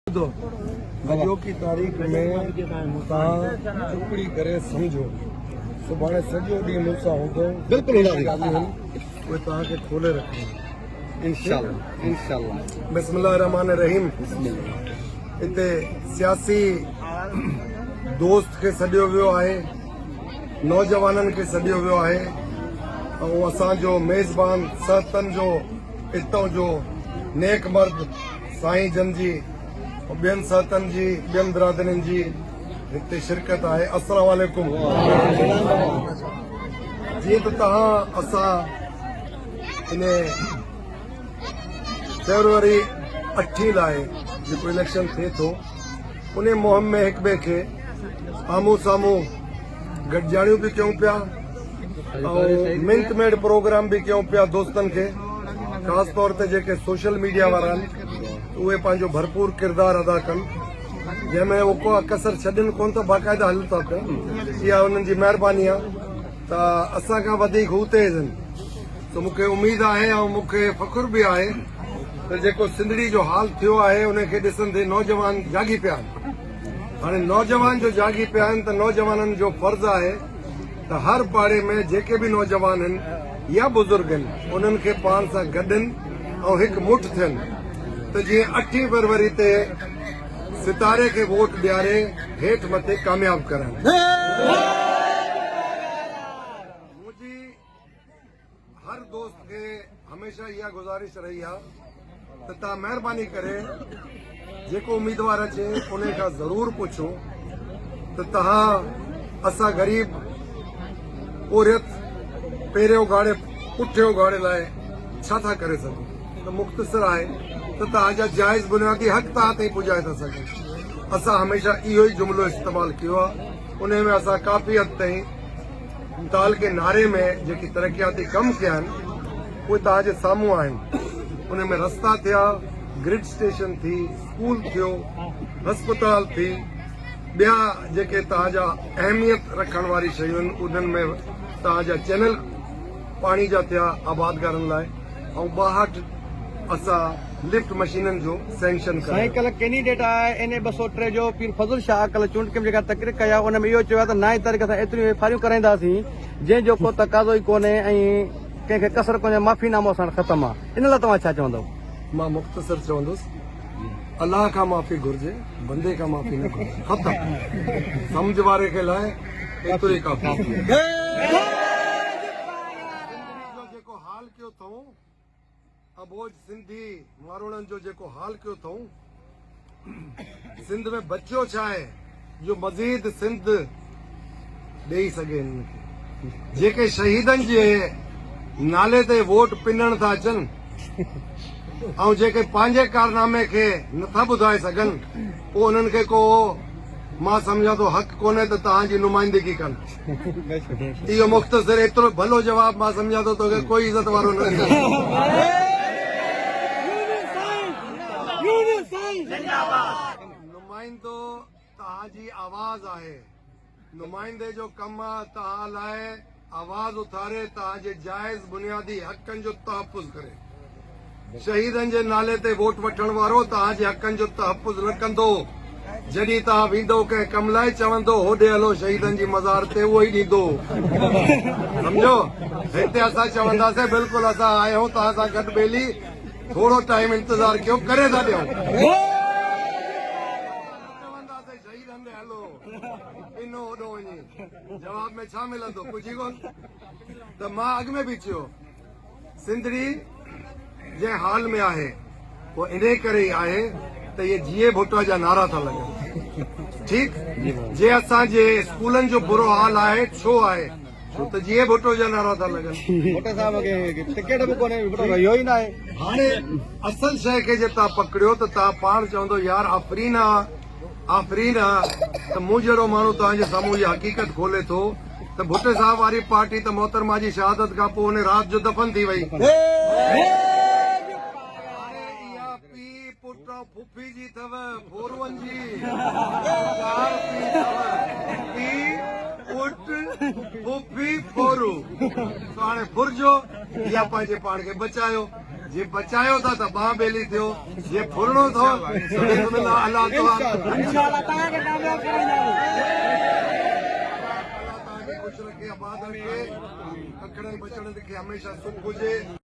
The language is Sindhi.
اڄوڪي تاريخ ۾ توهان چپڙي ڪري سمجهو سڀاڻي سڄو ڏينهن مون سان هوندو بلڪل اهي توهان کي کولي رکندو انشاء الله انشاء الله بسم الله الرحمن الرحيم اتي سياسي دوست کي سڏيو ويو آهي نوجوانن کي سڏيو ويو آهي ۽ اسان جو ميزبان سهتن جو اتو جو نيڪ مرد سائين جن جي ۽ ٻين سهتن جي ٻين برادرين جي هتي شرڪت آهي السلام عليڪم جيئن ته توهان اسان ان فيبروري اٺين لاء جيڪو اليڪشن ٿئي ٿو ان مهم ۾ هڪ ٻئي کي آمهون سامهون گڏجاڻيون به ڪيون پيا ۽ منٽ ميڊ پروگرام به ڪيون پيا دوستن کي خاص طور تي جيڪي سوشل ميڊيا وارا آهن اهي پنهنجو ڀرپور ڪردار ادا ڪن جنهن ۾ هو ڪو ڪسر ڇڏين ڪون ته باقاعده هلن ٿا پيا اها انهن جي مهرباني آهي ته اسان کان وڌيڪ هو تيز آهن ته مون کي اميد آهي ۽ مون کي فخر به آهي ته جيڪو سنڌڙي جو حال ٿيو آهي ان کي ڏسندي نوجوان جاڳي پيا آهن هاڻي نوجوان جو جاڳي پيا آهن ته نوجوانن جو فرض آهي ته هر پاڙي ۾ جيڪي به نوجوان هن يا بزرگ هن انهن کي پاڻ سان گڏن ۽ هڪ مٺ ٿين ته جيئن اٺين فروري تي ستاري کي ووٽ ڏياري هيٺ مٿي ڪامياب ڪرن. هر دوست کي هميشه اها گذارش رهي آهي ته تان مهرباني ڪري جيڪو اميدوار اچي ان کان ضرور پڇو ته تهان اسا غريب پوريت پيري اگاڙي پٺي اگاڙي لاء ڇا ٿا ڪري سگهون ته مختصر آهي ته تهان جا جائز بنيادي حق تهان تائين پڄائي ٿا سگهون اسا هميشه اهو ئي جملو استعمال ڪيو آهي ان ۾ اسا ڪافي حد تائين متعلقي ناري ۾ جيڪي ترقياتي ڪم ٿيا آهن اهي توهان جي سامهون آهن ان ۾ رستا ٿيا، گرڊ اسٽيشن ٿي، اسڪول ٿيو، هسپتال ٿي ٻيا جيڪي توهان جا اهميت رکڻ واري شيون آهن انهن ۾ توهان جا چينل پاڻي جا ٿيا آبادگارن لاء. ۽ ٻاهٺ اسان لفٽ مشينن جو سينڪشن ڪرايو. سائين ڪلهه ڪينڊيڊيٽ آء اين اي ٻه سؤ ٽي جو پير فضل شاهه ڪلهه چونڊ ڪميٽي کان تقرير ڪئي آء ان ۾ اهو چيو آء ته نائين تاريخ اسان ايتريون ايف آء آريون ڪرائينداسين جنهن جو ڪو تقاضو ئي ڪونهي ۽ ڪنهن کي ڪسر ڪونهي معافي نامو اسان وٽ ختم آ ان لاء توهان ڇا چوندؤ؟ مان مختصر چوندس الله کان معافي گهرجي بندي کان معافي نه گهرجي ختم سمجهه واري کي لاء ايترو ئي ڪافي آ. جيڪو حال ڪيو ٿئون اٻوجھ سنڌي ماروئڙن جو جيڪو حال ڪيو ٿئون سنڌ ۾ بچيو ڇا آهي جو مزيد سنڌ ڏئي سگهي هن کي جيڪي شهيدن جي نالي تي ووٽ پنڻ ٿا اچن ۽ جيڪي پنهنجي ڪارنامي کي نٿا ٻڌائي سگهن پوء انهن کي ڪو مان سمجهان ٿو حق ڪونهي ته توهان جي نمائندگي ڪن اهو مختصر ايترو ڀلو جواب مان سمجهان ٿو توکي ڪوئي عزت وارو نه نمائندو توهان جي آواز آهي نمائندي جو ڪم آهي توهان لاء آواز اٿاري توهان جي جائز بنيادي حقن جو تحفظ ڪري شهيدن جي نالي تي ووٽ وٺڻ وارو توهان جي حقن جو تحفظ نه ڪندو، جڏهن توهان ويندو ڪنهن ڪم لاء چوندو هوڏي هلو شهيدن جي مزار تي اهو ئي ڏيندو سمجهيو هتي اسان چونداسين بلڪل اسان آهيون توهان سان گڏ ٻيلي ٿورو ٽائيم انتظار ڪيو ڪري ٿا ڏيون چونداسين شهيد هنڌ هلو پنو هوڏو وڃي جواب ۾ ڇا ملندو ڪجهه ڪون ته مان اڳ ۾ به چيو سنڌڙي جنهن حال ۾ آهي اهو انهي ڪري ئي آهي ته اهي جيئي ڀٽو جا نعرا ٿا لڳن ٺيڪ جي اسان جي اسڪولن جو برو حال آهي ڇو آهي ڇو ته جيئي ڀٽو جا نعرا ٿا لڳن ڀٽو صاحب کي ٽڪيٽ به ڪونهي ڀٽو رهيو ئي ناهي هاڻي اصل شيء کي جي تان پڪڙيو ته تان پاڻ چوندو يار آفرين آ آفرين آ ته مون جهڙو ماڻهو توهان جي سامهون اها حقيقت کولي ٿو ته ڀٽي صاحب واري پارٽي ته محترمه جي شهادت کان پوء ان رات جو دفن ٿي وئي. هاڻي اها پيء، پٽ ۽ ڦڦي جي اٿو، ڦورون جي. چار پيء اٿو، پيء، پٽ، ڦڦي، ڦورو. سو هاڻي ڦرجو يا پنهنجي پاڻ کي بچايو. جي بچايو ٿا ته ٻانهن ٻيلي ٿيو جي ڦرڻو ٿو ته بسم الله الله توهان کي خوش رکي آباد رکي ڪڪڙن ٻچڙن کي هميشه سک هجي